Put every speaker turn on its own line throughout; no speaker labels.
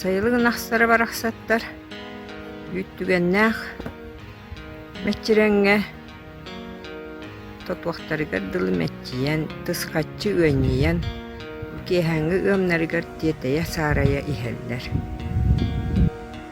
Сайылык ынахтара барахсаттар үүт түгэннээх мэччирэҥҥэ тотуохтарыгар дылы мэччийэн, тысхаччы үөнньүйэн, бу киэһээҥҥи ыамнарыгар тиэтэйэ-саарайа иһэллэр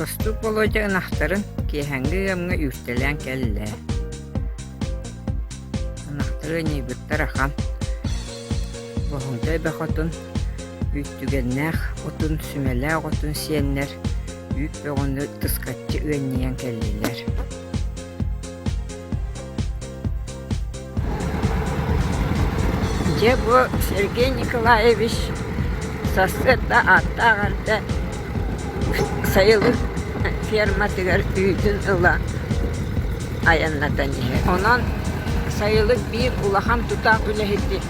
Бостуук Володя ынахтарын киэһэҥҥи ыамҥа үүртэлээн кэллэ. Ынахтары ньыйбыттар ахан. Боһуҥтай Бөхотун Үүттүгэннээх отун, сүмэлээх отун сиэннэр үүт бөҕөнү тыскаччы ыанньыйан кэллилэр Дьэ бу Сергей Николаевич сарсыарда ааттаах эрдэ сайылык ферматыгар үүтүн ыла айаннатан иһэр. Онон сайылык биир улахан тутаах үлэһити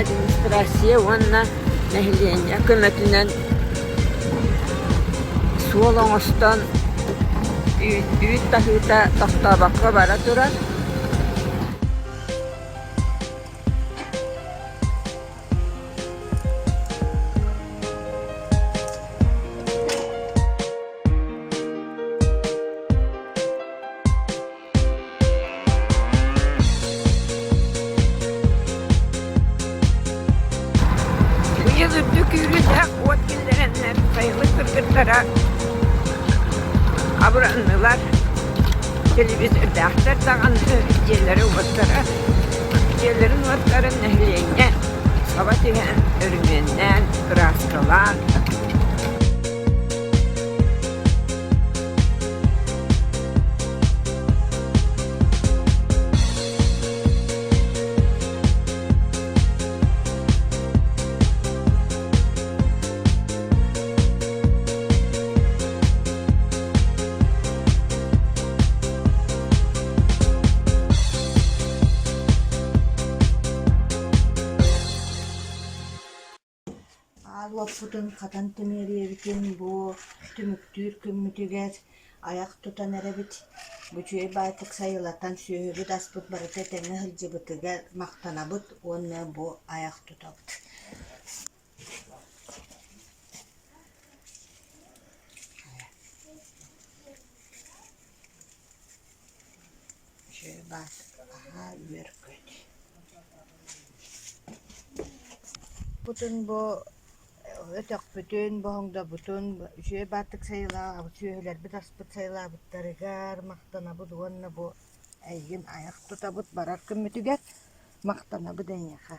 администрация уонна нэһилиэнньэ көмөтүнэн суол оҥостон үүт таһыыта тохтообокко бара турар Быйыл үрдүк үүрүүлээх уот киллэрэннэр сайылык кыргыттара абыраннылар телевизордаахтар даҕаны дьиэлэрэ уоттара Ийэлэрин уоттарын нэһилиэнньэ саба түһээн, өрөмүөннээн, кырааскалаан, уоппутун хатан тимириэбитин бу түмүктүүр күммүтүгэр айах тутан эрэбит бучуй баатык сайылатан сүөһүбүт аспыт барыта тэҥэ сылдьыбытыгар махтанабыт уонна бу айах тутабыт Дьыалат аһаа үөргөт Бутун бу өтөхпүтүн, боһоҥдобутун, үчүгэй баартык сайылаабыт сүөһүлэрбит аспыт сайылаабыттарыгар махтанабыт уонна бу эйигин айах тутабыт барар күммүтүгэр махтанабыт эйиэхэ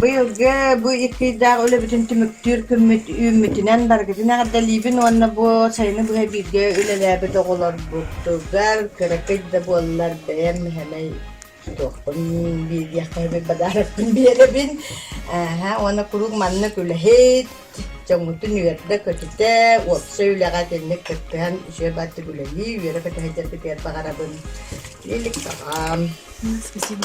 Быйылгы бу икки ыйдаах үлэбитин түмүктүүр күммүт үүммүтүнэн барыгытын эҕэрдэлиибин уонна бу сайыны быһа бииргэ үлэлээбит оҕолорбутугар кыра кыйда буоллар бэйэм мэһэмэй Туохпун биэриэххэ подарокпун биэрэбин. Ааһа, уонна куруук маннык үлэһит, дьоҥҥутун үөрдэ-көтүтэ, уопсай үлэҕэ итинник кыттыһан үсүө баттык үлэлии, үөрэ-көтө сылдьаргытыгар баҕарабын. Илик саҕаам. Спасибо.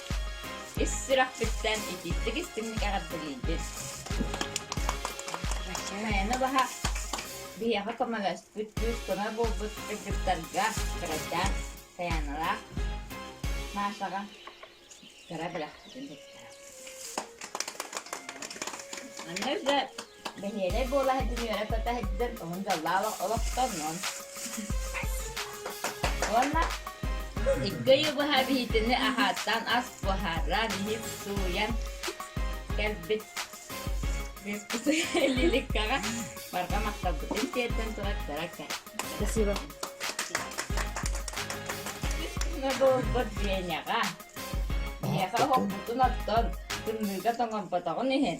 Ис сүрэхпиттэн итиитик-истиҥник эҕэрдэлиибин! Мэйэнэ баһа биһиэхэ көмөлөспүт күүс-көмө буолбут кыргыттарга кырайдаан Таяналаах Машаҕа кыра бэлэхпитин тутта. Манна да Бэһиэлэй буола сылдьан үөрэ-көтө сылдьан тоһун дьаллаан олохтоннун. Уонна икки ый быһа биһитини аһааттан ас буһаран, иһip сууйан кэлбит лирикаҕа барҕа махталбытын тиэрдэн турар таракка. Спасибо. Ногорбот Веняҕа. Биһиэхэ оһохпутун оттон, тымныыга тоҥорботоҕун иһин,